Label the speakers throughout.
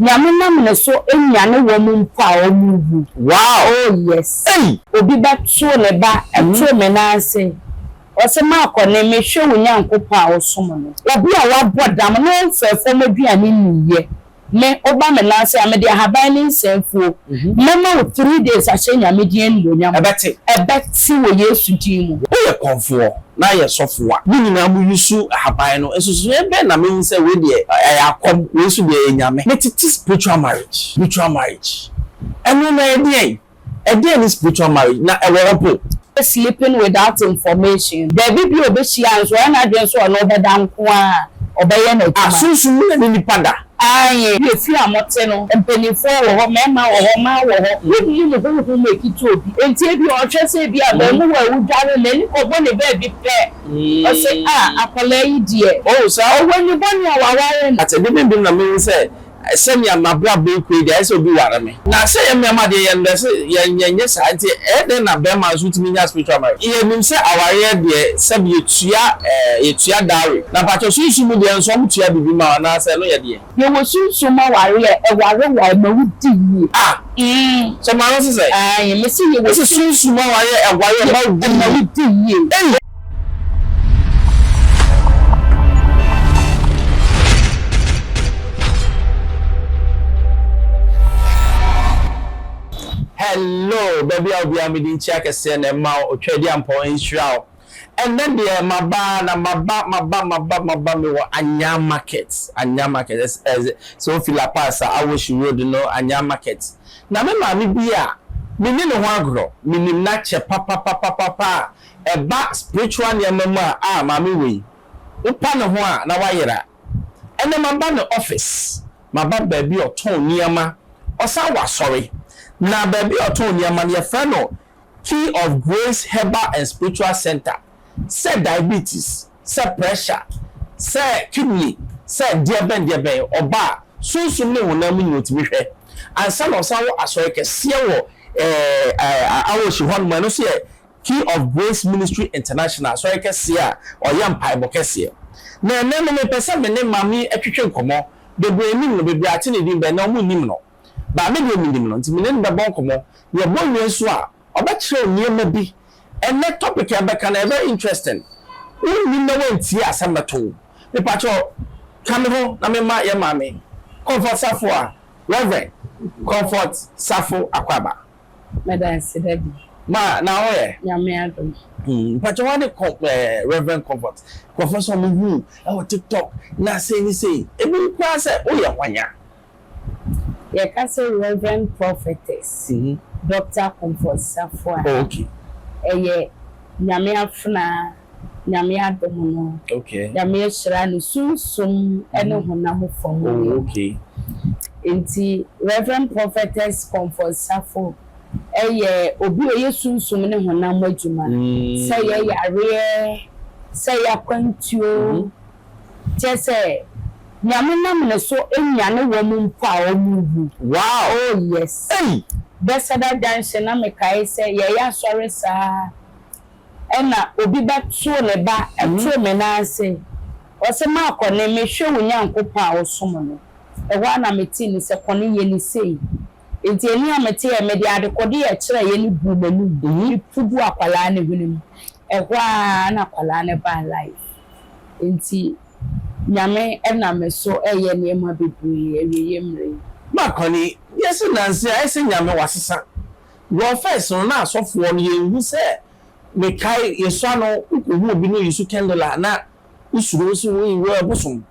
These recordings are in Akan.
Speaker 1: Nyame nam ne so nyane wɔn mpo a wɔn wu. Waa oh yes. Ei! Obi bɛto ne ba ɛto me nan ase ɔse makɔ ne me hwɛ wo Nyankopɔn a wo som no. Obi a wabɔ dam na ɔnfɛ fɔm aduane nniiɛ me woba me nan ase a mede ahaban ne nsa afuo mɛma wo three days ahyɛ Nyame din animuonyam. Ɛbɛte. Ɛbɛte wɔ Yesu din mu. Woyɛ kɔmfoɔ.
Speaker 2: na yɛ sɔfo a. Mo nyinaa mo yusu ahaban no nsusuiɛ bɛn na mehu sɛ wei deɛ ɛyɛ akɔm wei nso deɛ ɛyɛ nyame. Metete spiritual marriage spiritual marriage ɛno na ɛyɛ deɛn ɛdeɛn ne spiritual marriage na ɛwɔ hɔ po. Sleeping
Speaker 1: without information baabi bi a ɔbɛhyia nso ɔyɛ n'adwene sɛ ɔne wo bɛda nko ara ɔbɛyɛ n'adwuma. Ah sunsum mu na ne nipa
Speaker 2: da. Aane. Wo yɛ fie
Speaker 1: a mo te no, mpaninfoɔ wɔ hɔ, mmarima wɔ hɔ, mmaa wɔ hɔ, wo nni mo honhom mu ɛkiti obi, enti ebia ɔhwɛ sɛ ebia abaamuwa a ɔdware no n'ani kɔbɔ ne baabi pɛ, ɔse a akwadaa yi deɛ, oh saa, ɔwɔ ani
Speaker 2: bɔne a
Speaker 1: waware no. But ɛde bɛn bi mu na mehu sɛ
Speaker 2: sɛnea m'abrabɔ rekɔ yi deɛ ayɛ sɛ obi ware me? Na sɛ yɛn mmarima deɛ yɛn dɛ sɛ yɛn yɛn nyɛ saa nti ɛyɛ dɛn na barima nso tumi nya spiritual marriage? Yɛ nim sɛ awareɛ deɛ sɛbi yɛ tua ɛɛ yɛ tua dowry na mpakyɛw sunsum mu deɛ nso wɔn tua biribi ma wo anaa sɛ ɛno yɛ deɛ. Yɛ wɔ sunsum mu
Speaker 1: awareɛ ɛware wo a ɛma wo di yie. Ah mm sɛ maa no se sɛn.
Speaker 2: Ae me se yɛ wɔ. Wo se
Speaker 1: sunsum mu awareɛ
Speaker 2: ɛware ɛma wo di yie. Ɛma wo di yie. Ei. Hello baabi a obiara mede nkyia kɛseɛ na ɛma wo otwadi ampɔ nhyira wo ɛnɛ deɛ maba na maba maba maba maba me wɔ anya market anya market ɛsɛ sɛ ofi la pass a awoshi road no anya market na me maame bi a me ne ne ho agorɔ menim n'akyɛ papapapapa a ɛba spiritual nneɛma mu a ah maame wei wopa ne ho a na wayera ɛnɛ maba ne office maba baabi a ɔtɔn nneɛma ɔsan wɔ asɔre na baabi a ɔtɔn nneɛma no yɛfrɛ no key of grace herbal and spiritual center sɛ diabetes sɛ pressure sɛ kidney sɛ deɛbɛn deɛbɛn ɔba a sunsum ne honam mu nyina ɔtumi hwɛ ansa na ɔsan wɔ asɔre kɛseɛ wɔ eh eh awohyi hɔ nom ɛno nso yɛ Key of Grace Ministry International, asɔre kɛseɛ a ɔyɛ mpaebɔ kɛseɛ. Na ɛnnɛ no me pɛ sɛ me ne Maame ɛtwetwe nkɔmɔ, bebree nnim no, bebree ate ne din bɛ na ɔmo nnim no. Maame deɛ me nim no, nti me ne no bɛbɔ nkɔmɔ, yɛ bɔ wie nso a, ɔbɛ kyerɛw nneɛma bi. Ɛnnɛ topic a yɛbɛka no ɛyɛ very interesting, wo nnim na woantie a asɛm bɛto wo. Me pa kyɛw ka me ho na me ma yɛ Maame Comfort Safoa, Rev. Comfort Safo Akwaba. Meda ase
Speaker 1: daddy. Ma na wo yɛ.
Speaker 2: Nyame adom.
Speaker 1: Mpakyɛ wane
Speaker 2: Rev Comfort nkurɔfoɔ sɛ ɔmo hu wo wɔ tiktok na sei ne sei ebinom koraa sɛ wo yɛ hwan a.
Speaker 1: Yɛka sɛ Rev Prophetess Doctor Comfort Safoa a ɛyɛ Nyame afenaa Nyame adom no Nyame
Speaker 2: ahyira no
Speaker 1: sunsum ne honam fam yie
Speaker 2: nti
Speaker 1: Rev Prophetess Comfort Safo yɛ obi a ɔyɛ sunsum ne honam adwuma sɛ yɛ yareɛ sɛ yɛ akwantuo kyerɛ sɛ Nyame nam ne so nyane wɔn mpo a wɔn wu oh yes Bethesda Junction na mekae sɛ yɛyɛ asɔre saa. Ɛna obi bɛ too ne ba too me nan ase, ɔse maa kɔne me hwɛ wo Nyankopɔn a wo som no, ɛhɔ ara na me tee ne sɛ kɔne yɛ ne sei, enti ɛne a me te yɛ mede adekode yɛ kyerɛeɛ no buu m'anum me pu gu akwadaa no hwene mu, ɛhɔ ara na akwadaa no baa life, enti Nyame ɛnam me so ɛyɛ nneɛma bebree awieɛ mmerɛ yi. Ma kɔne,
Speaker 2: wiase nanse ayɛ sɛ Nyame wasesa, Wɔ first no na asɔfoɔ no yɛnhu sɛ mekae yɛsua no wokɔhu obi na ɔyisu candle a na wosuro wo sɛ woi wo ɛbosom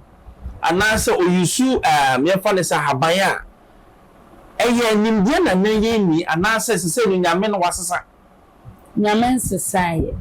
Speaker 2: anaasɛ ɔyisu ehm yɛmfa no sɛ ahaban a ɛyɛ nimdeɛ na na yɛnni anaasɛ sesei no Nyame no wasesa. Nyame
Speaker 1: nsesaeɛ.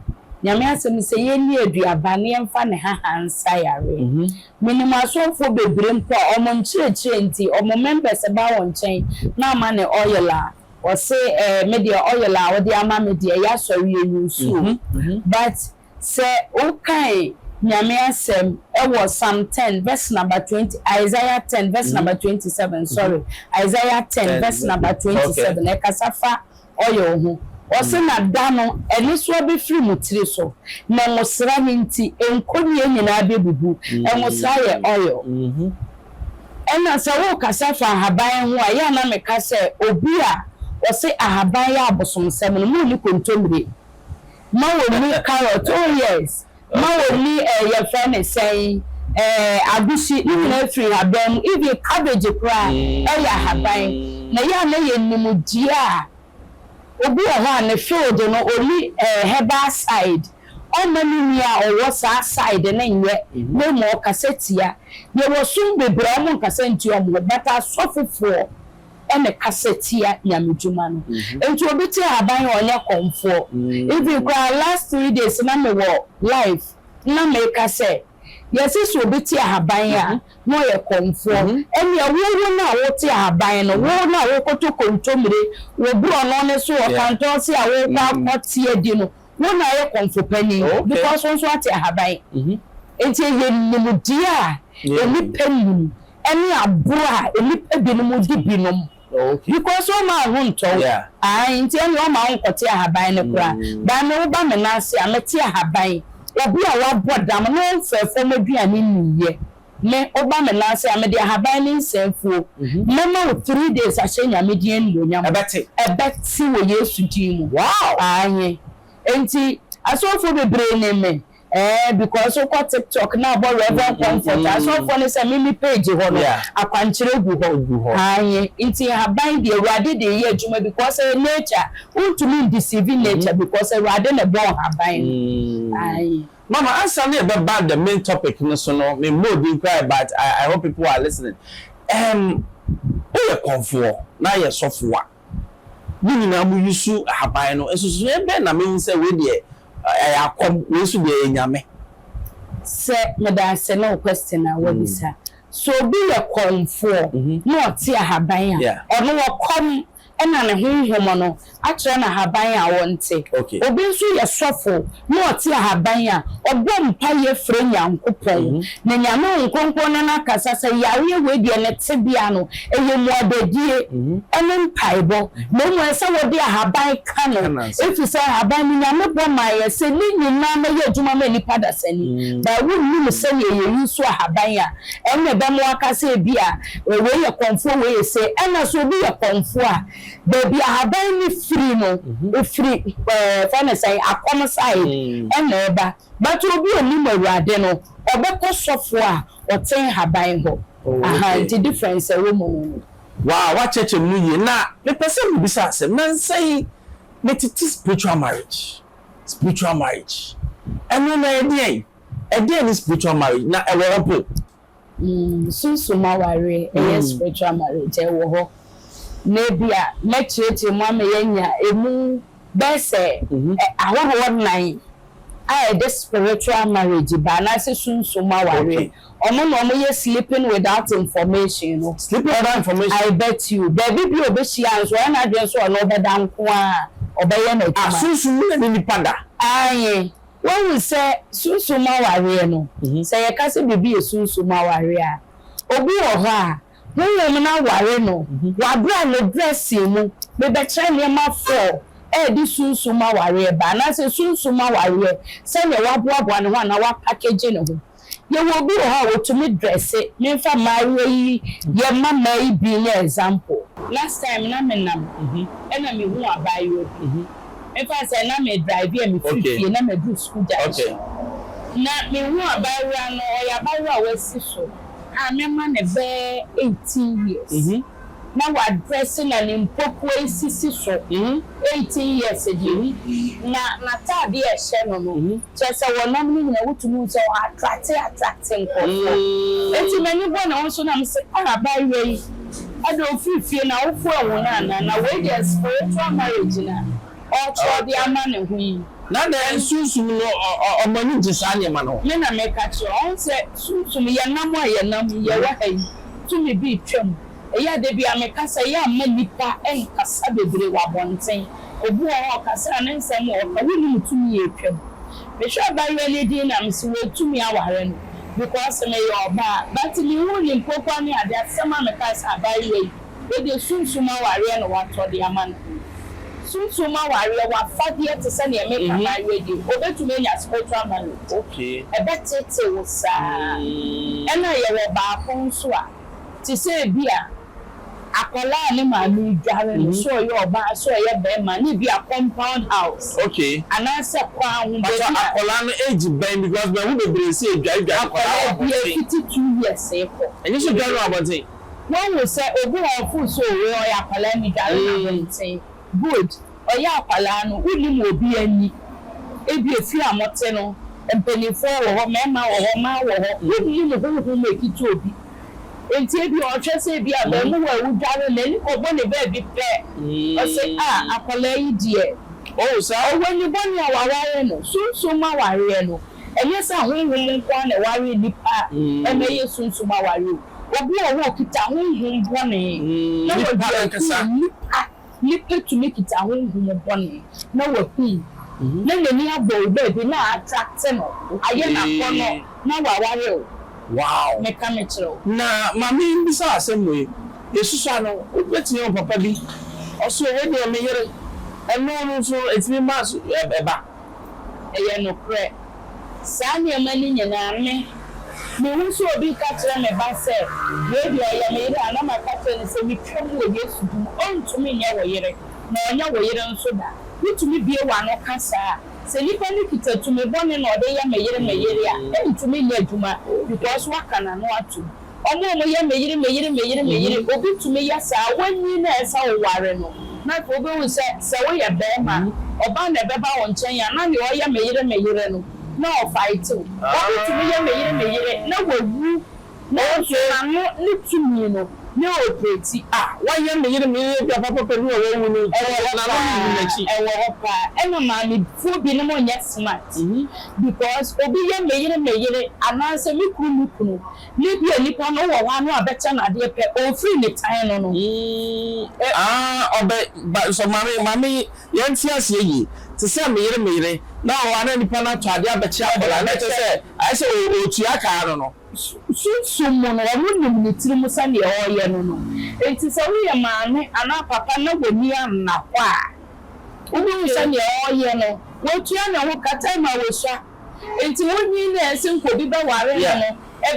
Speaker 1: Nyame asɛm no sɛ yɛnni aduaba na yɛmfa ne haha nsa yareɛ. Menim asɔfoɔ bebree mpo a wɔn nkyerɛkyerɛ nti wɔn members ba wɔn nkyɛn na wɔma no oil a Ɔse eh me deɛ oil a wode ama me deɛ ɛyɛ asɔre ɛyɛ nsu o but sɛ wokan Nyame asɛm ɛwɔ psalm ten verse number twenty Isaiah ten verse number twenty seven sorry Isaiah ten verse number twenty seven ɛkasa fa oil ho ɔse na da no ɛnesoa bɛfiri mo tiri so na ngosra no nti nkɔnnie nyinaa bɛbubu ngosra yɛ oil. Ɛna sɛ worekasa fa ahaban ho a, yɛ a na meka sɛ obi a ɔse ahaban yɛ abosomsɛm no, ma ɔnni kontommire, ma ɔnni carrot, oh yes, ma ɔnni eh, yɛfrɛ no sɛn, eh, agusi, ne nyinaa firi nhaban mu, even cabbage koraa, ɛyɛ ahaban. Na yɛ a na yɛ nimdeɛ a Obi wɔ hɔ a ne field no only ɛɛ herbal side, ɔmma ne nua a ɔwɔ saa side no nyɛ na mmom ɔkasa tia. Yɛwɔ som bebree a wɔnkasa ntia wɔn ho but asɔfofoɔ na ɛkasa tia Nyame dwuma no. Nti obi te haban a ɔnyɛ kɔmfoɔ. Even koraa last three days na mewɔ live na meka sɛ yɛse sɛ obi te ahaban a, na ɔyɛ kɔmfoɔ. Ɛnneɛ wo, wo no a wote ahaban no, wo no a worekɔtɔ kontommire wɔ borɔno no so wɔ kantɔnse a worekɔ akɔte adi no, wo na woyɛ kɔmfo panin, because wo nso woate ahaban. Enti ɛyɛ nimdeɛ a nnipa nnim ne aboro a nnipa binom di binom. Because womma wo ho ntɔ wo. Ae nti ɛneɛ womma wo nkɔte ahaban no koraa. By me woba me nan ase a mɛte ahaban. Obi a wabɔ dam na ɔmfaa fam aduane nniiɛ, me woba me nan ase a mede ahaban ne nsa afuo mɛma wo three days ahyɛ Nyame din animuonyam. Ɛbɛte. Ɛbɛte wɔ Yesu din mu. Wow! Ae. Nti asɔfoɔ bebree nim me. Ɛɛ because wokɔ tiktok na abɔ reverend comfort a asɔfoɔ no sɛ me me page hɔ no akwankyerɛ gu hɔ aane nti nhaban deɛ awurade de yɛ adwuma because ɛyɛ nature wontumi ndeceive nature because awurade na ɛbɔɔ nhaban no aane. Mama ansa na
Speaker 2: yɛbɛba the main topic no so no me mmɔɔ din koraa ɛ but I hope people are listening ɛɛm woyɛ kɔmfoɔ na yɛ sɔfoɔ a. Mo nyinaa mo yusu ahaban no, nsusuiɛ bɛn na mehu sɛ wei deɛ ɛyɛ akɔm, wei nso deɛ ɛyɛ nyame? Sɛ
Speaker 1: meda ase ne wo question a wabisa. Sɛ obi yɛ kɔmfoɔ na ɔte ahaban a, ɔno wɔkɔm na ne honhom no akyerɛ no ahaban a ɔnte. Obi nso yɛ sɔfo na ɔte ahaban a, ɔbɔ mpaeɛ frɛ Nyankopɔn, na Nyame Honhom Kronkron ne no akasa sɛ yareɛ wei deɛ ne tebea no ɛyɛ mmuadadie ɛne mpaebɔ, na mmom ɛsɛ sɛ wode ahaban ka no, ɛfiri sɛ ahaban no Nyame bɔ maeɛ sɛ ne nyinaa mɛyɛ adwuma ma nnipa adasa ni, but wonnim sɛdeɛ yɛ use ahaban a, ɛnna ɛbɛma waka sɛ ebia wei yɛ kɔmfoɔ wei yɛ sei, ɛnna sɛ obi yɛ kɔmfoɔ a, Baabi a ahaban no firi no, ɛfiri, yɛfrɛ no sɛn, akɔm side na ɛba. But obi a ɔnim Awurade no, ɔbɛkɔ sɔfoɔ a ɔte nhaban hɔ. Ahaa, nti difference a ɛwɔ mu no no. Wow, woakyerɛkyerɛ
Speaker 2: me no yie. Na mepɛ sɛ mebisa asɛm. Nnansa yi, metete spiritual marriage, spiritual marriage. Ɛno no ɛyɛ deɛn? Ɛdeɛn ne spiritual marriage, na ɛwɔ hɔ po?
Speaker 1: Sunsum awareɛ, ɛyɛ spiritual marriage, ɛwɔ hɔ. Na ebi a, mɛkyerɛkyerɛ mu ama yɛanya ɛmu bɛyɛ sɛ ahoroɔ nnan a ɛde spiritual marriage ba anaasɛ sunsum awareɛ. Wɔn na wɔyɛ sleeping without information no. Sleeping without information? I
Speaker 2: bet you. Baabi
Speaker 1: bi a ɔbɛhyia nso, ɔyɛ n'adwene sɛ ɔne wo bɛda nko ara a, ɔbɛyɛ no adwuma. Ah, sunsum mu na ne nipa
Speaker 2: da? Aane.
Speaker 1: Woahu sɛ sunsum mu awareɛ no, sɛ yɛka sɛ biribi yɛ sunsum mu awareɛ a, obi wɔ hɔ a, honhom no aware no, wabrɛ a ne brɛ see mu. Mebɛkyerɛ nneɛma four a ɛde sunsum mu awareɛ ba, anaasɛ sunsum mu awareɛ, sɛdeɛ waboaboa ne ho anaa wapakegye ne ho. Yɛwɔ obi wɔ hɔ a otumi dresse, menfa mmaayewa yi yɛ mma mmaa yi bi nyɛ example. Last time na me nam ɛna me hu abaayewa bi, menfa no sɛ na me drive a me firi fie na ma duru school junction, na me hu abaayewa no, ɔyɛ abaayewa a w'asi so a mɛma no bɛɛ eighteen years. na wadrɛse na ne mpokua sisi so, eighteen years deɛ ni, na n'atadeɛ a ɛhyɛ no no, kyerɛ sɛ wɔnam no nyinaa wotumi hu sɛ ɔ attracte attracte nkurɔfoɔ. Enti m'ani bɔɔ ne ho so na mese, ah abaayewa yi, ɛdeɛ ofiri fie no awofo anhu no anaa? Na wei deɛ spiritual marriage no a. ɔrekyerɛw de ama ne ho yi. Na na Sunsum
Speaker 2: no ɔma no gye saa nneɛma no. Me na meka kyerɛ wo. Ɔho
Speaker 1: sɛ Sunsum, yɛnam a yɛnam yi, yɛwɔ ha yi, tumi bi retwa mu. Ɛyɛ a da biara mekasa, ɛyɛ a mma nnipa nkasa bebree wɔ abɔnten. Obi wɔ hɔ a ɔkasa a ne nsɛm a ɔka, wonnim tumi a ɛtwa mu. Mehwɛ abayewa no din na mese wɔatumi aware no because meyɛ ɔbaa. But menhu ne mpokuwa ne ade, asɛm a mekae sɛ abayewa yi. Yɛde sunsum awareɛ na watɔ de ama no. Sunsum awareɛ, w'afadeɛ te sɛ deɛ meka no ara yi, ɔbɛtumi anya spiritual marriage. Ɛbɛtete wo saa. Ɛna yɛwɔ baako nso a, te sɛ ebi a akwadaa a ne maame redware no, sɛ ɔyɛ ɔbaa, sɛ ɔyɛ barima, ne bi a compound house, anaasɛ
Speaker 2: kwan
Speaker 1: ho baabi a. Mpakyɛ akwadaa no age
Speaker 2: bɛn, because mahu bebree sɛ yɛdware dware nkwadaa wɔ abɔnten. Akwadaa biara
Speaker 1: fiti two years rekɔ. Ɛnyɛ sɛ dware wɔ abɔnten.
Speaker 2: Woahu sɛ
Speaker 1: obi wɔ ɔfo so o wei ɔyɛ akwadaa ni dware no abɔnten good ɔyɛ akwadaa no wonim obi ani ebi efie a mote no mpaninfoɔ wɔ hɔ mɛɛma wɔ hɔ mmaa wɔ hɔ wonim honhom ekita obi nti ebi ɔhwɛ sɛ ebi abɛɛmuwa ewu dware no n'ani kɔbɔ ne baabi pɛ ɔsɛ ah akwadaa yi deɛ oh saa ɔwɔ
Speaker 2: ani bɔne a
Speaker 1: waware no sunsum awareɛ no ɛnyɛ sɛ honhom nkoa na ɛware nipa ɛma ɛyɛ sunsum awareɛ o Obi wɔ hɔ a okita honhom bɔne na wadi Nnipa akum ankasa. nnipa. Nnipa tumi kita honhom bɔne na wakum na n'ani abɔ wo baabi na a attracte no, ayɛ no akɔnnɔ Okay. na waware wo. Wow! Meka
Speaker 2: mekyerɛ wo.
Speaker 1: Na ma me
Speaker 2: mbisa wo asɛm wei, Yesusua no, wobɛtumi ahu papa bi, ɔse, wei deɛ me yere, ɛno no nso ɛtumi ma so ɛba? Ɛyɛ
Speaker 1: nokorɛ. Saa nneɛma no nyinaa, me, mehu sɛ obi reka kyerɛ me ba sɛ, Wei deɛ ɔyɛ me yere a, na maka akyerɛ no sɛ, Metwa mu wɔ Yesu din mu, ɔrentumi nyɛ wo yere, na ɔrenyɛ wo yere nso da. Wotumi bue w'ano ka saa? Sɛ nipa no kita tumi bɔne na ɔde yɛ me yere, me yere a, ɛrentumi nyɛ adwuma, because woaka n'ano atom. Wɔn a wɔyɛ me yere, me yere, me yere, me yere, obi tumi yɛ saa, wanyin na ɛsɛ sɛ ɔware no. Na afei wubehu sɛ, sɛ woyɛ barima a, ɔbaa na ɛbɛba wo nkyɛn a, na nea ɔyɛ me yere, me yere no, na ɔfaete wo. Obi tumi yɛ me yere, me yere, na wawu, nanso n'ano ne tumi no, na ɛopereti. A, wayɛ me yere,
Speaker 2: me yere bi a papapɛ bi na wawu no nti, ɛwɔ hɔ paa, n'ano nni n'akyi. Ɛwɔ hɔ paa. Ɛna
Speaker 1: maamefoɔ binom nyɛ smart, because obi yɛ me yere, me yere, anaasɛ me kunu, me kunu, Libia nipa no wɔ hɔ ano a bɛkyɛ no adeɛ pɛ ɔnfiri ne tan no no. Yii aah ɔbɛ
Speaker 2: ba nsɔ mame mame yɛn nte aseɛ yie te sɛ me yere me yere na ɔwɔ a na nipa no atɔ adeɛ abɛkyɛ akwadaa no ɛkyɛ sɛ ayɛ sɛ ɔretua kaa no no. Sunsum
Speaker 1: mu no ɔno nim ne tiri mu sɛdeɛ ɔreyɛ no no nti sɛ woyɛ maame anaa papa na w'ani anna hɔ a wobɛhu sɛdeɛ ɔreyɛ no watua ne ho ka time a wasua. Enti munyin na ense nka obi bɛware no no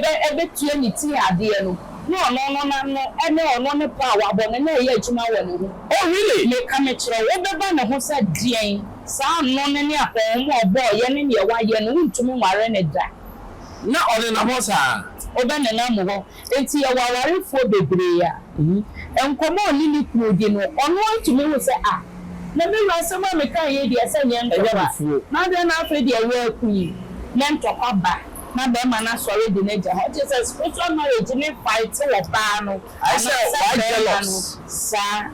Speaker 1: bɛ betua ne ti adeɛ no, ne ɔno no n'ano ne ɔno ne pɔ a wabɔ no na ɛyɛ adwuma wɔ ne ho. Oh, really? Meka
Speaker 2: mekyerɛ wo,
Speaker 1: wobɛba ne ho sɛ deɛn? Saa ano no ne apɔnhoma a ɔbɔɔeɛ ne neɛ wayɛ no, wontumi nware no da. Na
Speaker 2: ɔnenam hɔ saa? Wobɛnenam hɔ.
Speaker 1: Enti yɛwɔ awarefoɔ bebree a, nkɔmmɔ a ɔne ne kunu di no, ɔno ara tumi hu sɛ, Ah, na me wura asɛm a mekaeɛ yi deɛ, sɛ nyɛ ntɔkwa na adɛn na afei deɛ awuraa aku yi? Nyɛ ntɔkwa ba na barima no asɔre de no agya hɔ. Ɛkyerɛ sɛ spiritual marriage no fight wɔ baa no anaasɛ
Speaker 2: barima no saa.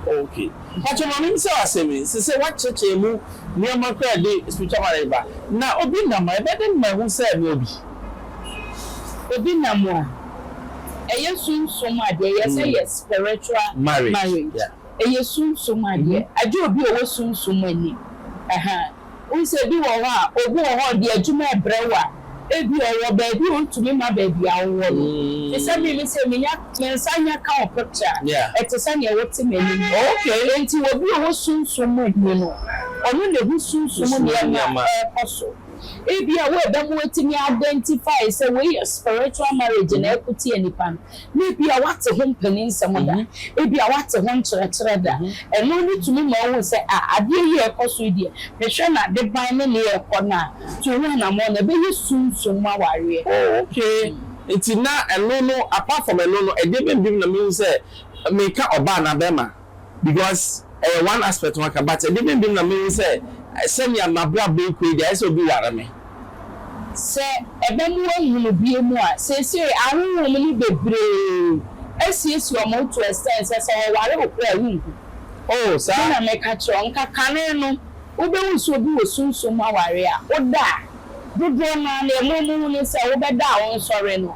Speaker 1: Ok.
Speaker 2: Mpa kyɛw ma me mbisa wo asɛm yi. Sesei woakyerɛkyerɛ mu nneɛma koraa a ɛde spiritual marriage ba. Na obi nam a, ɛbɛyɛ dɛn ma ahu sɛ mewɔ bi?
Speaker 1: Ebi nam a, ɛyɛ sunsum adeɛ, yɛ sɛ yɛ spiritual marriage, ɛyɛ sunsum adeɛ, agye obi a ɔwɔ sunsum ani, ahaa, wohu sɛ ebi wɔ hɔ a, obi wɔ hɔ a ɔde adwuma rebrɛ wo a, ebi a ɔwɔ baabi a ɔntumi mma baabi a wowɔ no, te sɛ me, me sɛ menya, me nsa nya ka wo picture a, ɛte sɛ deɛ wote m'anim, enti
Speaker 2: obi a ɔwɔ
Speaker 1: sunsum ani no, ɔno na ɛhu sunsum nneɛma a ɛrekɔ so. Ebia worebɛma watumi a identify sɛ wei yɛ spiritual marriage na ɛko tia nipa no. Na ebia wate ho mpanin nsɛm da, ebia wate ho nkyerɛkyerɛ da. Ɛno no tumi ma wohu sɛ ah adeɛ yi a ɛkɔ so yi deɛ mehwɛ no adeban ne nea ɛrekɔ no a to ho anammɔn na ɛbɛyɛ sunsum mu awareɛ. Oh okay
Speaker 2: nti na ɛno no apart from ɛno no ɛdeɛ bɛn biom na mehu sɛ meka ɔbaa anaa bɛɛma? Because ɛyɛ one aspect waka but ɛdeɛ bɛn biom na mehu sɛ sɛnea mabrabɔ rekɔ yi deɛ ayɛ sɛ obi ware me. Sɛ
Speaker 1: ɛba mu wɔnhunu bio mu a, seesei ahonhom no bebree asiesie wɔn ho to extent sɛ sɛ wɔware wo koraa a wonhu. Oh saa. Me
Speaker 2: na meka kyerɛ wo, nka
Speaker 1: kane no wobɛhu sɛ obi wɔ sunsum mu awareɛ a, woda a, dodoɔ no ara no ɛmu a wɔhu ne sɛ wobɛda a wonsɔre no,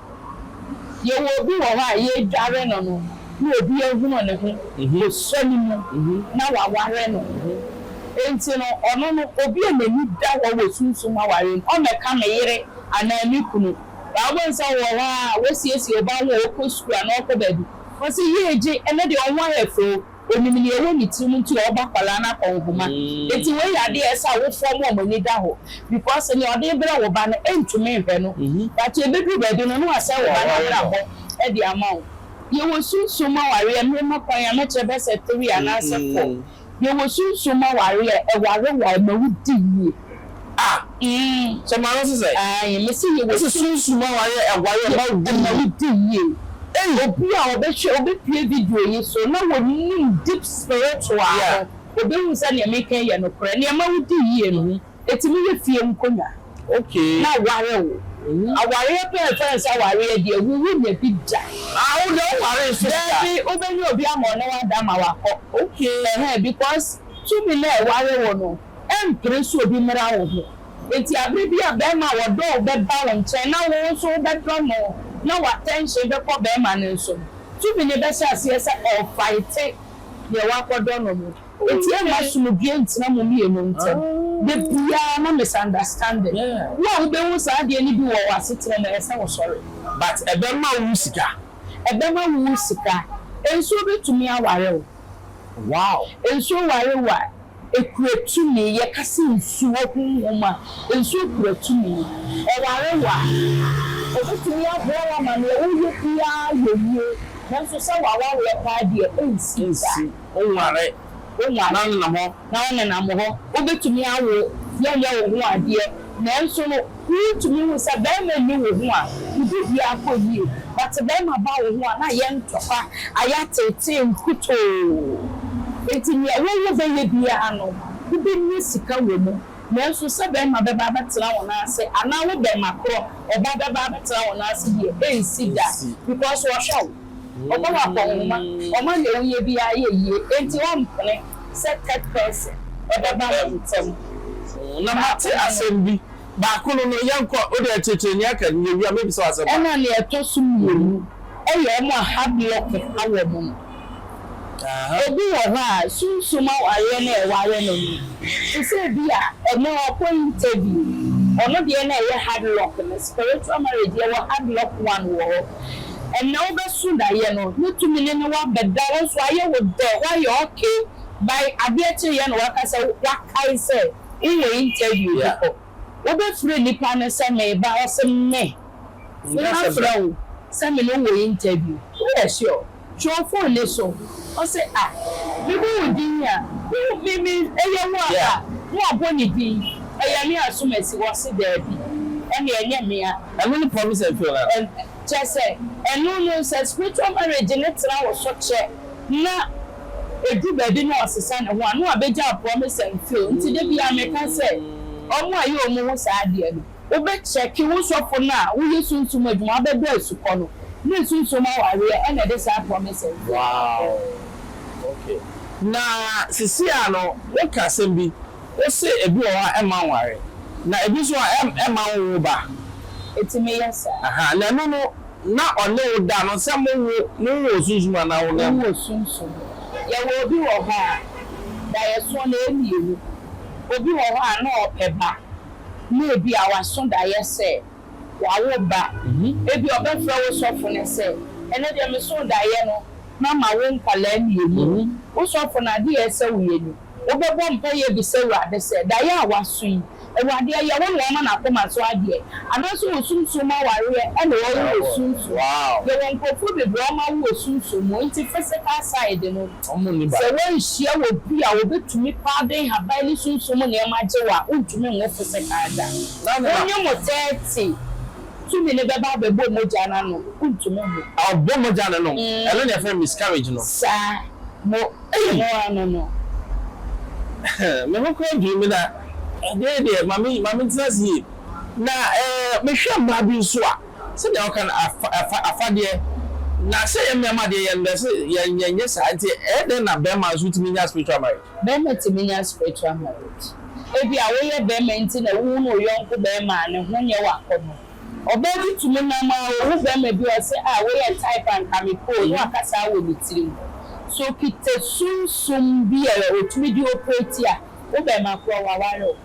Speaker 1: Yɛwɔ obi wɔ hɔ a yɛredware no no na obi ahunu ne ho osua no mu na waware no. Enti no, ɔno no, obi a n'ani da hɔ wɔ sunsum aware mu, ɔmmɛka me yere anaa me kunu. Baa wobɛhu sɛ ɔwɔ hɔ ara a, wasiesie ɔba ho a, ɔkɔ sukuu anaa ɔkɔ baabi. Ɔse, Yie gye, ɛnɛ deɛ wo ho ayɛ fɛ o. Onim nea ɛwɔ ne tirim nti ɔreba akwadaa no akɔnhoma nti wei yɛ adeɛ a ɛsɛ sɛ awofoɔ mo wɔn ani da hɔ because nea ɔde rebrɛ wo ba no ntumi nhwɛ no but ɛbɛduru baabi no na wasɛe wo ba no abrabɔ de ama wo. Yɛwɔ sunsum ma awareɛ mema kwan a mɛkyerɛ bɛyɛ sɛ three anaasɛ four yɛwɔ sunsum ma awareɛ a ɛwarewa ɛma wodi yie. a. Umm.
Speaker 2: Sɛ maa no sesɛ. Ae, me se yewɔ. Ese
Speaker 1: sunsum a wayɛ ɛwae ɛma wo di yie. Ɛma wo di yie. Ei. Obi a ɔbɛhwɛ, ɔbɛpue video yi so na wɔnim deep spiritual no, ɔbɛhu sɛ neɛ meka yi yɛ nokorɛ. Neɛ ɛma wo di yie no, ɛtumi yɛ fie nkonwa. Okay. Na
Speaker 2: aware wo.
Speaker 1: Awareɛ paa yɛfrɛ no sɛ awareɛ deɛ, wo wonya bi da. Ah, wo deɛ woware
Speaker 2: nso da. Daabi, wobɛnya obi
Speaker 1: ama ɔne wo ada ama wakɔ. Okay. Ɛhɛn, because tumi no a ɛware wo no. Ɛmpere sɛ obi mmara wo ho. Enti bere bi a barima a wɔdɔ wo bɛba wo nkyɛn na wo nso wobɛdɔ no na w'atɛnhyen bɛkɔ barima no nso no, tumi no bɛhyɛ aseɛ sɛ ɔrefaete deɛ woakɔdɔ no no. Enti ɛmma asomdwoeɛ ntena mo mmienu ntam. Da biara ma misunderstanding. Wo a wobɛhu saa adeɛ no bi wɔ w'asetena mu, ɛyɛ sɛ wosɔre. But ɛbɛma
Speaker 2: wo wo sika. Ɛbɛma wo wo sika. Nsuo bɛtumi aware wo. Wow.
Speaker 1: Nsuo ware wo a. Ekura tumi. Yɛka sɛ nsuo, honhom a. Nsuo kura tumi. Ɛware wo a, ɔbɛtumi aboa wo ama deɛ woreyɛ biara ayɛ yie. Nanso sɛ w'awareɛ paa deɛ, ɛnsi da. Ɛnsi. Wonware.
Speaker 2: Wonware na wonenam hɔ. Na wonenam
Speaker 1: hɔ. Wobɛtumi awo, yɛnyɛ wo ho adeɛ. Nanso no. Wuntumi nhu sɛ bɛɛma nni wo ho a wodi bia akɔ yie but bɛɛma ba wo ho a na ayɛ ntɔkwa, ayɛ ateetee nkutoo. Nti nea wo wo bɛyɛ biaa no wo bɛnya sika wɔ mu nanso sɛ bɛɛma bɛba abɛtena wo nan ase anaa wo bɛɛma korɔ ɔba bɛba abɛtena wo nan ase deɛ ɛnsi da because wɔhwɛ wo. Ɔbɔ wo akɔnhoma, ɔma nea woyɛ biara yɛ yie, enti wompene sɛ third person bɛba mo ntam. Na
Speaker 2: mate asɛm bi. Baako no no, yɛnkɔ. Wo deɛ kyekyere nea aka no, yɛwie a, mɛbisa wo asɛm baako. Ɛna nea ɛtɔ so
Speaker 1: mmienu yɛ wɔn a hard lock awɔ wɔn no. Obi wɔ hɔ a, sunsum awareɛ na ɛware no no, te sɛ ebia ɛnnɛ ɔrekɔ interview, ɔno deɛ na ɛyɛ hard luck no, spiritual marriage, yɛwɔ hard luck one wɔ hɔ. Ɛnnɛ wobɛso daeɛ no, ne tumi no ne wo abɛda, wo nso ayɛ wo dɛ, woayɛ okay, by adeɛ kyeeɛ na woaka sɛ woakae sɛ wowɔ interview bi kɔ. Wobɛfrɛ nipa no sɛ meba, ɔse me, me mɛfrɛ wo sɛ me ne wo wɔ interview, woyɛ sure? Twerɛ fone no so. Ɔse a, mebu wo din a, wo me me ɛyɛ wo a a, ne wabɔ ne din, ɛyɛ ne asomasi wɔ se daabi, ɛne ɛnyɛ me a. Ɛno ne promise a ɛtwerɛ no a.
Speaker 2: Ɛn, kyerɛ sɛ,
Speaker 1: ɛno no sɛ spiritual marriage no tena wo so kyɛ na ɛduru baabi na ɔsesa ne ho a, ne wabɛgyaa promise and fail. Nti da biara meka sɛ, wɔn a ɛyɛ wɔn ho saa adeɛ no, Wobɛkyɛke wo sɔfo no a woyɛ sunsum adwuma abɛdɔ asukɔ no ne sunsum awareɛ ɛna ɛde saa promise no brɛ wo.
Speaker 2: Na seesei ara no woka asɛm bi, wose ebi wɔ hɔ a ɛmma nware, na ebi nso a ɛmma nwo ba. Ɛtumi yɛ
Speaker 1: saa. Ahaa, na ɛno no
Speaker 2: na ɔne wo da no sɛ mowo no wowɔ osunsum anaa honam mu? Wowɔ sunsum.
Speaker 1: Yɛwɔ obi wɔ hɔ a, daeɛso no ɛyɛ mmienu. Obi wɔ hɔ a na ɔpɛ ba. Na ebia w'aso daeɛ sɛ wawo ba. Ebia ɔbɛfrɛ wo sɔfo no sɛ, Ɛnnɛ deɛ meso daeɛ no, mama wo nkwadaa mmienu. Wo sɔfo no, adeɛ a ɛsɛ sɛ woyɛ ni, Wobɛbɔ mpaeɛ abisa Awurade sɛ, Daeɛ a woaso yi, Awurade, ɛyɛ wo na woama no akoma so adeɛ, anaasɛ wo sunsum mu awareɛ na ɔrewo wɔ sunsum mu? Yɛwɔ nkurɔfoɔ
Speaker 2: bebree
Speaker 1: a wɔawo wɔ sunsum mu, enti physical side no. Sɛ
Speaker 2: woanhyia
Speaker 1: obi a obetumi paa bɛn haban ne sunsum nneɛma gye wo a, wuntumi nwo po sekan da. Wo ne mo tɛɛte tumi no bɛba abɛbɔ mogya no ano. Wuntumi nwo. Ɔbɔ mogya no nom.
Speaker 2: Ɛno na yɛfrɛ no miscarriage no. Saa.
Speaker 1: Mo mo ano no.
Speaker 2: Me ho koraa dwiri me na ɛdeɛ deɛ ma me ma mentena ase yie. Na eh mehwɛ mmaa bi nso a. sɛdeɛ wɔka no, afa, afa, afadeɛ. Na sɛ ɛyɛ mmarima deɛ, yɛnnɔ sɛ yɛ, yɛnyɛ saa. Nti ɛyɛ dɛn na barima nso tumi nya spiritual marriage? Barima tumi nya
Speaker 1: spiritual marriage. Ebia woyɛ barima nti na wohunu wo yɔnko barima a ne ho nyɛ w'akɔnnɔ. Ɔbaa bi tumi nam ara ɔhu barima bi a ɔse, Ah, wei yɛ type a anka mepɛ o, na waka saa wɔ ne tirim. So okita sunsum bi a ɔtumi de operate a, wo barima koraa, waware wo.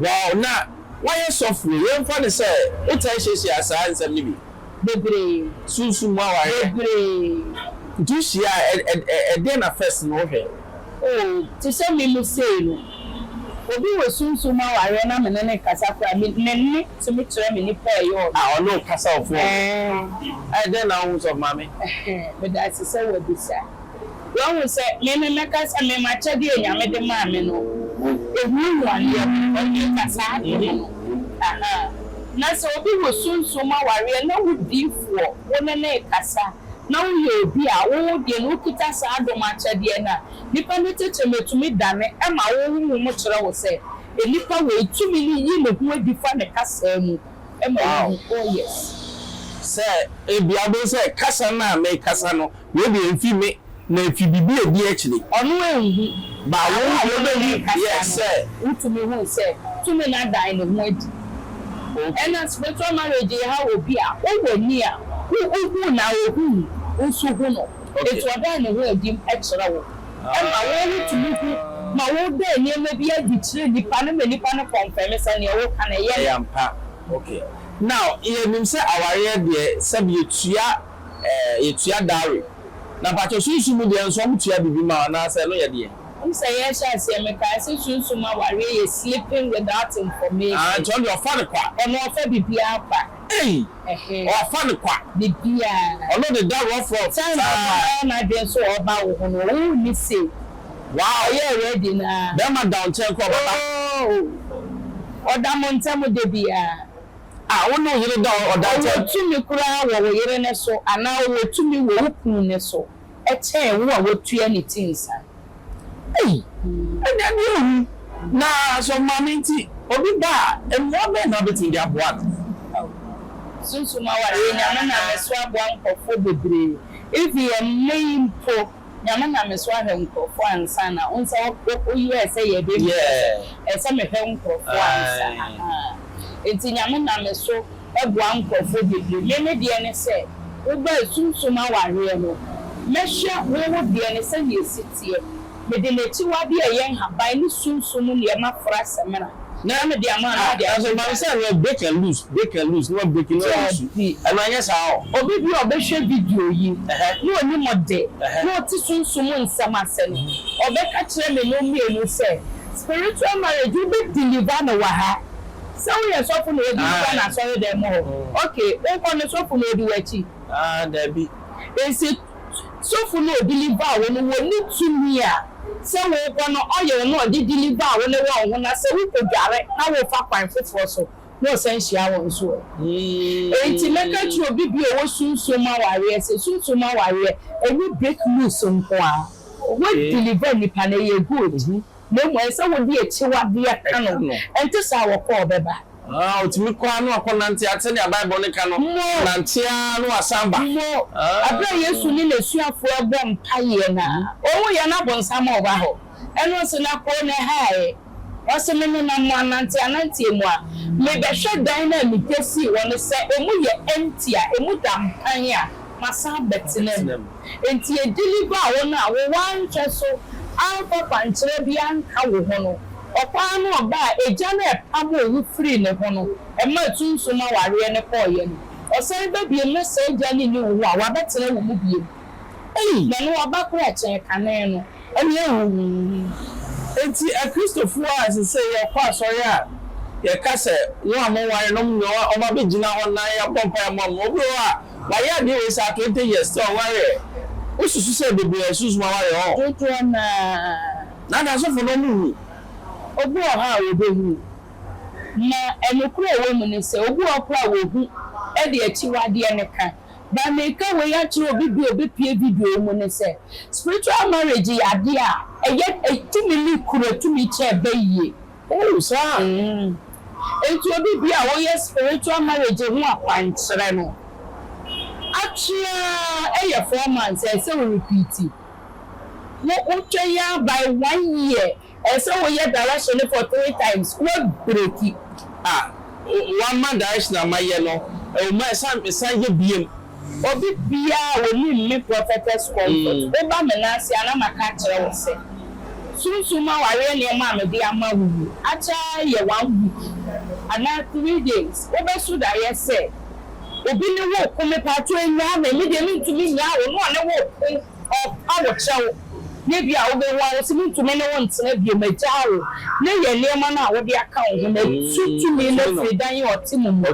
Speaker 1: Wow
Speaker 2: na wayɛ sɔfoɔ. Yɛn fa no sɛ wo taa hyiahyia saa nsɛm no bi. Bebree.
Speaker 1: Sunsum mu
Speaker 2: awareɛ. Bebree.
Speaker 1: Nti hyia
Speaker 2: a ɛdɛn na first no wo hwɛ. Oh te sɛ
Speaker 1: me mu sei no obi wɔ sunsum mu awareɛ na me ne no kasa koraa me ne nne tumi kyerɛ me nipa a ɛyɛ ɔno. Ah ɔne wo kasa wɔ
Speaker 2: phone. Ɛɛ. Ɛdɛn na wo hu sɔfo maame. Ɛhɛɛ meda ase
Speaker 1: sɛ wabisa. Wahu sɛ me na mɛka sɛ me m'akyɛdeɛ a Nyame de maa me no gu ɛhuahuadeɛ ho, ɔnni ka saa adeɛ no ahaa. Na sɛ obi wɔ sunsum awareɛ na wo diyifoɔ wo ne no rekasa na wo yɛ obi a wo wo deɛ no wo kita saa adom akyɛdeɛ no a, nipa no tete no tumi dane ɛma wo honhom kyerɛ wo sɛ nipa wei tumi no yi ne ho adi fa ne kasaa mu ma wo hu, oh yes. Sɛ
Speaker 2: ebia wobɛhu sɛ kasa no a merekasa no Wei deɛ nfi me na nfi bibi edi akyire. Ɔno enhu.
Speaker 1: Ba wo a
Speaker 2: wobehu deɛ sɛ. Wotumi hu sɛ
Speaker 1: tumi no adan ne ho adi. Ɛna spiritual marriage ehaw obi a ɔwɔ ni a wo ohu na ohu wo nso hu no nti ɔdan ne ho adi kyerɛ wo ɛma wo ho tumi hu ma wo da nneɛma bi adi kyerɛ nipa no ma nipa no kɔnfɛme sɛ neɛ wo ka no ɛyɛ ne. Ɛyɛ ampa ok
Speaker 2: now yɛ nim sɛ awareɛ deɛ sɛbi yɛ tua Eh yɛtua dowry. Na mpakyɛw sunsum mu deɛ nso ɔmo tua biribi ma wo anaa sɛ ɛno yɛ deɛn? Wonim sɛ yɛrehyɛ aseɛ
Speaker 1: mekae sɛ sunsum awareɛ yɛ sleeping without information. Ah nti ɔno deɛ ɔfa no kwa.
Speaker 2: Ɔno ɔfa bibiaa
Speaker 1: kwa. Ei! Ɛhɛ.
Speaker 2: Ɔfa no kwa. Bibiaa. Ɔno
Speaker 1: de da rough rough
Speaker 2: saa. Time a ɔbɛyɛ
Speaker 1: n'adwene sɛ ɔɔba wo ho no wo nni safe. Wow! Ɔyɛɛ ready no aa. Bɛɛma da wo nkyɛn koraa
Speaker 2: ɔbɛba. Ooh!
Speaker 1: Ɔda mo ntɛm dabiaa. a wo ne wo
Speaker 2: yere da hɔ ɔda ntam. Ɔwɔ tumi koraa wɔ wo
Speaker 1: yere no so anaa ɔwɔ tumi wɔ wo kunu no so kyɛn wo a woatua ne ti nsa. Ei,
Speaker 2: ɛnyɛ adeɛ a ohu. Na sɛ ɔmaa no nti obi ba a, mmoa bɛn na wobɛtumi de aboa no? Ao.
Speaker 1: Sunsum awareɛ, Nyame nam me so aboa nkurɔfoɔ bebree, even ɛnnɛ yi mpo. Nyame na me so ahwɛ nkorɔfoɔ ansa na wo nsa wo yɛɛ sɛ yɛɛ baby yeah. Ɛsɛ ɛsɛ me hwɛ nkorɔfoɔ ansa ahaa Nti Nyame na me so ɛboa nkorɔfoɔ bebree Me me deɛ ne sɛ wo baa sumsum awareɛ no Mɛ hwɛ wo wo deɛ no sɛdeɛ ɛsi teɛ Me de n'akyiwadeɛ ɛyɛ nhaban ne sumsum nneɛma fra samina. Mɛyɛ me dea maa me dea. Nanso ɛbam sɛ no break
Speaker 2: and loose, break and loose, na wa break na wa lusu. Ɛno anyɛ saa o. Obi bi a ɔbɛhwɛ
Speaker 1: video yi na onim de na ɔte sunsum nsɛm ase no, ɔbɛka kyerɛ me nom mmienu sɛ, Spiritual marriage, wobe deliver no wɔ ha. Sɛ woyɛ sɔfo na ɔredeliver no asɔredan mu hɔ, okay, wonkɔ no sɔfo na ɔdi w'akyi. Ah, dabi.
Speaker 2: Nti
Speaker 1: Sɔfo no ɔdi liver a wo no wɔ ne tumi a sɛ wokɔ no oil no ɔde di liver a wo no wɔ wo ho na sɛ wokɔ dware na wofa kwan foforɔ so na ɔsan hyia wo nso ɛ. Enti mɛka kyerɛ obi bi a ɔwɔ sunsum mu awareɛ sɛ sunsum mu awareɛ ɛnyɛ break loose nko ara. Wo deliver nipa no ɛyɛ good. na mmom ɛsɛ sɛ wode akyiwadeɛ ka no, ɛnte saa a, ɔkɔ a ɔbɛba. Aa, ɔtumi kɔ ara
Speaker 2: na wakɔ nante ate deɛ Bible no ka no, nante ara na wasan ba. Mmom, ɛberɛ a
Speaker 1: Yesu ne n'asuafoɔ rebɔ mpaeɛ no, ɔhu yɛn na bonsam a ɔba hɔ. Ɛno nso na koo na ɛhaeɛ. Ɔse, Me nenam mo ananteananteɛ mu a, mebɛhwɛ dan no a megya sii hɔ no sɛ emu yɛ empty a, emu da mpan a, masan abɛtena mu. Enti edili baa wɔn a wɔanhwɛ so amfa kwankyerɛ bi anka wo ho no, ɔkwan no ɔba a agya no a ɛpamoo wo firii ne ho no maa tu nso ma awareɛ no kɔeɛ no, ɔsan ba bio na saa agya no nni wo ho a, wabɛtena wo mu bio. Ei, na ne waba korɛ kyɛn kane no. Ɛnyɛ huhuuhu. Enti
Speaker 2: Akristofo a ɛsɛ sɛ yɛkɔ asɔre a yɛka sɛ wɔn a wɔnwarenom ne wɔn abegyina hɔ na yɛabɔ mpae ama wɔn. Obi wɔ hɔ a, wayɛ adeɛ wei saa twenty years, still ɔnwareɛ. Wosusu sɛ bebree a ɛsunsum awareɛ hɔ. Dodoɔ no ara.
Speaker 1: Na na asɔfo no
Speaker 2: nhu. Obi wɔ
Speaker 1: hɔ a wɔbɛhunu. Na nokorɛ a ɛwɔ mu ne sɛ, obi wɔ hɔ koraa a wɔhu de akyiwadeɛ no ka. Deɛ mereka wei akyerɛ obi bi a ɔbɛpue video yi mu ne sɛ, spiritual marriage yɛ adeɛ a ɛyɛ ɛtumi ne kuro ɛtumi kyɛ ɛba yie. Ooh saa
Speaker 2: mm.
Speaker 1: Enti obi bi a ɔyɛ spiritual marriage ho akwankyerɛ no, atwe ara ɛyɛ four months a ɛsɛ wo repeat. Wo wotwɛn ara by one year Ɛyɛ sɛ woyɛ direction no for three times na woabreki. Ah
Speaker 2: wama direction a mayɛ no ɛwɔ mu a ɛsɛ a mesan yɛ biom. Obi
Speaker 1: biara wɔnni mme Prophetess Comfort woba me nan ase a na maka akyerɛ wo sɛ Sunsum mu awareɛ nneɛma a mede ama wo yi akyɛ ayɛ one week anaa three days wobɛso daeɛ sɛ obi ne wo reko mepaatwo nyaa me me deɛ mentumi nyaa wo ne ɔne wo reko. Ɔpa wo kyɛw, na ebia wubehu ara sɛ muntumi ne wo ntena bio, magyaa wo, na yɛ nneɛma no a wode aka wo ho no atu tumi no afiri dan a ɔte mu mu.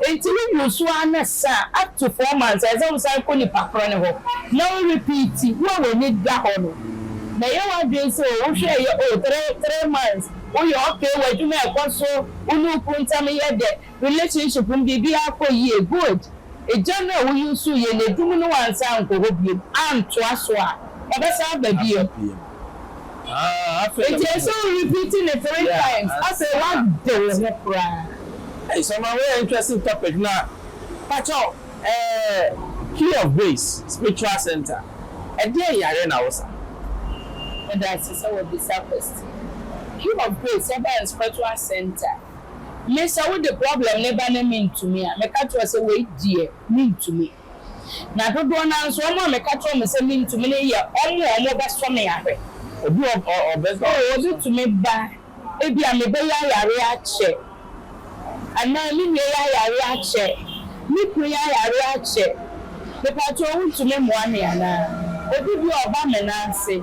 Speaker 1: Enti wugu so ara na sa after four months ɛsɛ sɛ wosan kɔ nipa korɔ no hɔ na wo repeat. Wo a w'ani da hɔ no, na ɛyɛ w'adwene sɛ o wohwɛɛ yɛ o three three months, woyɛ okay, w'adwuma ɛkɔ so, wo ne wo kunu ntam yɛ dɛ, Relationship no biribiara kɔ yie good egya no a wo use yɛ no adum no wansan ankɔ hɔ biom antoa so a ɔbɛsan aba bio nti ɛsɛ wo repeat no three times afei w'ade wo ho koraa. Hey Somaa
Speaker 2: wei yɛ interesting topic na pakyɛw ɛɛ Key of Grace Spiritual Centre ɛdeɛn yareɛ na wo sa?
Speaker 1: Medase sɛ wabisa question. Key of Grace Herbal and Spiritual Centre. Me sɛ wode problem no ba na mentumi a, meka kyerɛ wo sɛ wei deɛ mentumi. Na dodoɔ no ara nso wɔn a meka kyerɛ wɔn sɛ mentumi no yɛ wɔn a wɔbɛsɔ me ahwɛ. Obi a
Speaker 2: ɔbɛtumi ba,
Speaker 1: ebia mebɛyi ayare akyɛ, anaa me nua yi ayare akyɛ, me kunu yi ayare akyɛ, mepaakyɛw wontumi mmoa me anaa? Obi bi a ɔba me nan ase.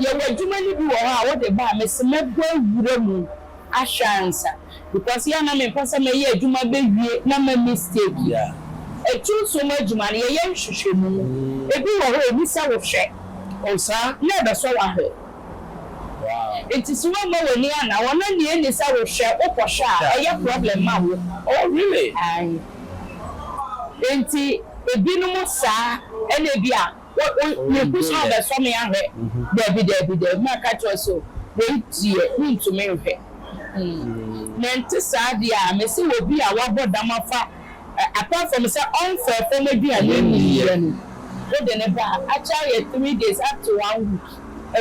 Speaker 1: Yɛwɔ adwuma no bi wɔ hɔ a wode ba a, mese mɛbɔ awura mu. ahwɛ ansa because yɛ a na mempɛ sɛ mɛyɛ adwuma bɛwie na ma mistake. Atu
Speaker 2: nsuo mu
Speaker 1: adwuma no yɛyɛ nhwehwɛmu, ɛbi wɔ hɔ ɛni sɛ wo hwɛ na ɛbɛsɔ wo ahwɛ
Speaker 2: nti sɛ woammɔ
Speaker 1: w'ani anna hɔ na nea ɛni sɛ wo hwɛ wo kɔ hwɛ a ɛyɛ problem ma wo. Aane nti ɛbinom saa ɛna ɛbi a Wo wo wo gu so rebɛsɔ me ahwɛ. Dabi dabi dabi maka kyerɛ wo sɛ wei deɛ mentumi nhwɛ. Mente saa deɛ a mese obi a wabɔ dam afa apart from sɛ ɔmfɛɛ fam aduane nniiɛ no wode no ba a akyɛ ayɛ three days up to one week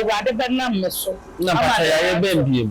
Speaker 1: awurade bɛnam me so ama ne ho
Speaker 2: atɔ.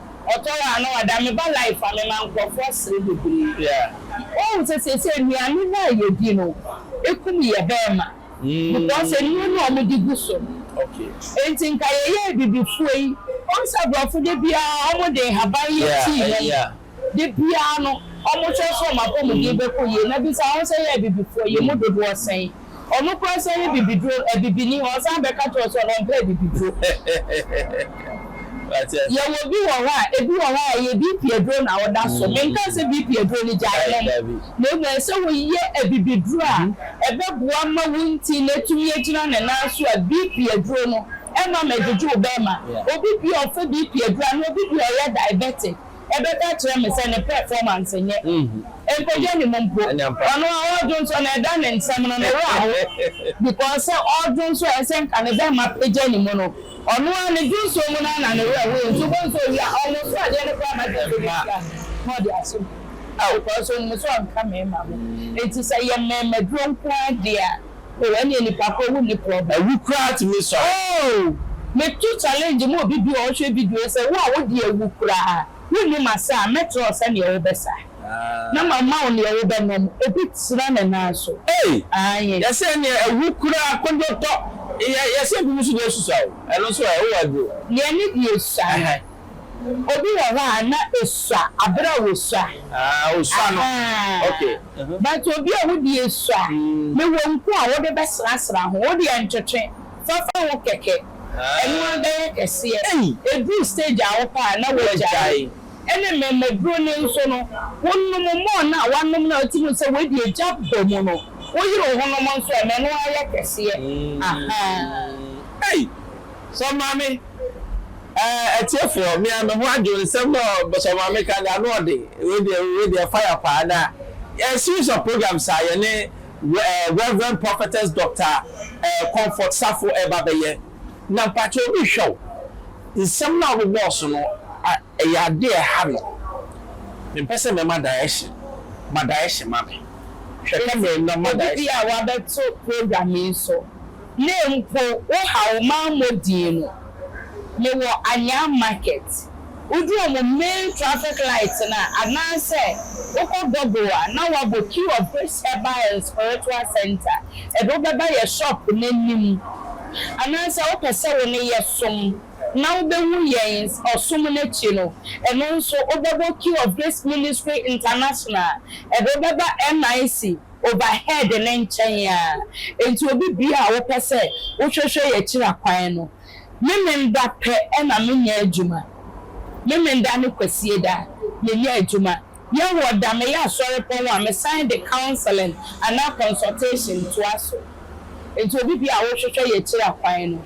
Speaker 1: Ɔtɔɔ a na wada me ba life a me ma nkorɔfoɔ asere bebree woahu
Speaker 2: sɛ seesei
Speaker 1: nnuane no a yɛdi no ɛkum yɛ bɛɛma because nnuro no a wɔn de gu so no
Speaker 2: nti nka yɛyɛ
Speaker 1: abibifoɔ yi woahu sɛ abrɔfo da biara wɔn de nhaban yɛ tea nom da
Speaker 2: biara
Speaker 1: no wɔn hwɛ sɛ wɔn apɔmuden bɛkɔ yie na bisa wɔn sɛ yɛ abibifoɔ yi yɛ mu dodoɔ sɛn. Ɔno koraa san yɛ bibiduro, abibini, na ɔsan bɛka kyerɛ wo sɛ ɔmpɛ abibiduro. Yɛwɔ bi wɔ hɔ a, ebi wɔ hɔ a, ɛyɛ BP aduro na woda so. Menkaa sɛ BP aduro no gyae nom, na mmom ɛsɛ sɛ woyɛ abibiduro a ɛbɛboa ma wo ntin no atumi agyina ne nan so a BP aduro no mma mmɛgyegye wo bɛmma. Obi bi a ɔfa BP aduro anaa obi bi a ɔyɛ diabetic, ɛbɛka kyerɛ me sɛ ne pɛfɔmanse nyɛ ɛnkɔgya ne mu mpo. Ɔno a ɔɔdwo nso no ɛda ne nsɛm no ne werɛ ho because sɛ ɔɔdwo nso a ɛsɛ nka ne bɛma pɛgya ne mu no ɔno ara ne dwonsuo mu no ara na ne werɛ hoyɛ nti wobɛhu sɛ ɔwie a ɔnwoso adeɛ no koraa ma dwonsuo no sika na ɔde asom because ɔnim sɛ ɔnka mɛɛma ho nti sɛ yɛ mɛɛma duro nko ara deɛ a. Oh ɛneɛ nipa korɔ wo nni problem. Awu koraa tumi sɔre.
Speaker 2: Oh me
Speaker 1: to challenge ma obi biaa ɔhwɛ video yi sɛ wo a wo deɛ wu koraa wo nni ma sa a mɛkyerɛ wo sɛdeɛ wo bɛ sa na ma ma wo neɛ wo bɛ nom obi tena ne nan so Ei aye. Yɛse ɛneɛ awu
Speaker 2: koraa kodwo tɔ yɛ yɛse ebinom nso deɛ susua o ɛno nso ɛ wowɔ aduro. Deɛ ne deɛ sua
Speaker 1: no. Obi wɔ hɔ a na esua aber a wosua. Ah osua no
Speaker 2: ok uh-huh. But obi
Speaker 1: a wode esua ne wɔ nku a wode bɛserasera ho wo deɛ ntwetwe fa fa wo kɛkɛ ɛno ara bɛyɛ kɛseɛ ɛduru stage a wopɛ a na wagyae ɛne mmɛmmaduro no nso no wonom more no a wanom no a wotumi hu sɛ wei deɛ egya bɔ mu no woyere wo ho nom nso a na ɛno ara yɛ kɛseɛ ahaa. Ei!
Speaker 2: Sɛ maame. Ɛɛ atiefoɔ me a me ho adwo nsɛm no a bɔsɔ maame ka no ano ɔde wei deɛ wei deɛ fire paa na ɛɛ series of programs a yɛne ɛɛ Reverend Prophetess Doctor ɛɛ Comfort Safo ɛɛba bɛyɛ na mpakyɛ obi hwɛ wo nsɛm no a wobobɔɔ so no a ɛyɛ adeɛ a ɛha no me mpɛ sɛ mɛma direction ma direction ma me hwɛ camera mu na ma direction. Obi a wabɛto
Speaker 1: program yi so Na mpo wo haw maa mo dii no. Me wɔ anyaa market wodu ɔmo main traffic light no a anaasɛ wo kɔ Google a na wabɔ key of grace herbal and spiritual center ɛde wo bɛba yɛ shop no anim anaasɛ wo pɛ sɛ wo ne yɛ som na wo bɛ hu yɛn ɔsom no akyi no ɛno nso wo bɛbɔ key of grace ministry international ɛde wo bɛba NIC Overhead no nkyɛn a, enti obi biara a wopɛ sɛ wohwɛhwɛ yɛ kyira kwan no, Memenda pɛ na menyɛ adwuma, Memenda ne Kwasieda menyɛ adwuma, yɛ wɔ da meyɛ asɔrepɔn a mesan de counseling anaa consultation toa so, enti obi biara a wohwehwɛ yɛ kyira kwan no.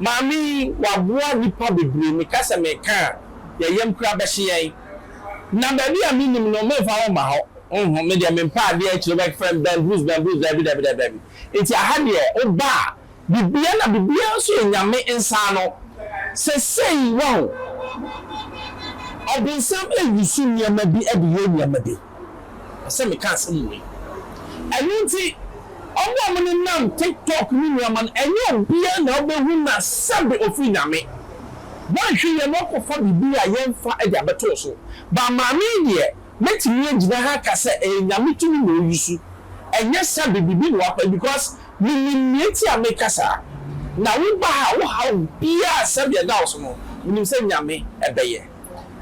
Speaker 2: Maame yi waboa nnipa bebree, meka sɛ meka a yɛn yam koraa bɛhye yɛn. Na baabi a mennim no memfa ho mma hɔ, honhom me deɛ mempɛ adeɛ akyire wobɛfrɛ me bamblues bamblues daabi daabi daabi daabi. Nti aha deɛ woba a biribiara na biribiara nso yɛ Nyame nsa ano. Sesei wahu. Ɔbonsam ɛwusu nneɛma bi de yɛ nneɛma bi. sɛ meka asɛm wei. Ɛno nti ɔmo a ɔmo nenam tiktok ne nneɛma no ɛnyɛ obiaa na ɔbɛhu na sɛbe ɔfiri Nyame. Bɔnhwe yɛ na ɔkɔfa biribi a yɛmfa de abɛtoo so. But maame yi deɛ mɛtumi agyina ha aka sɛ ɛyɛ Nyame tumi na ɔyi so ɛnyɛ sɛbe biribi na wapɛ because menim nea nti a meka saa. Na wo ba ha wo haw biaa sɛbe ɛda wo so no menim sɛ Nyame ɛbɛyɛ.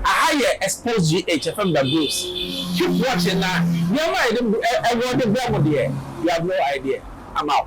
Speaker 2: Aha yɛ Expose GH ɛfam da Bruce keep watching na nneɛma a yɛde bu ɛ ɛwɔ de brɛ mo deɛ you have no idea I'm out.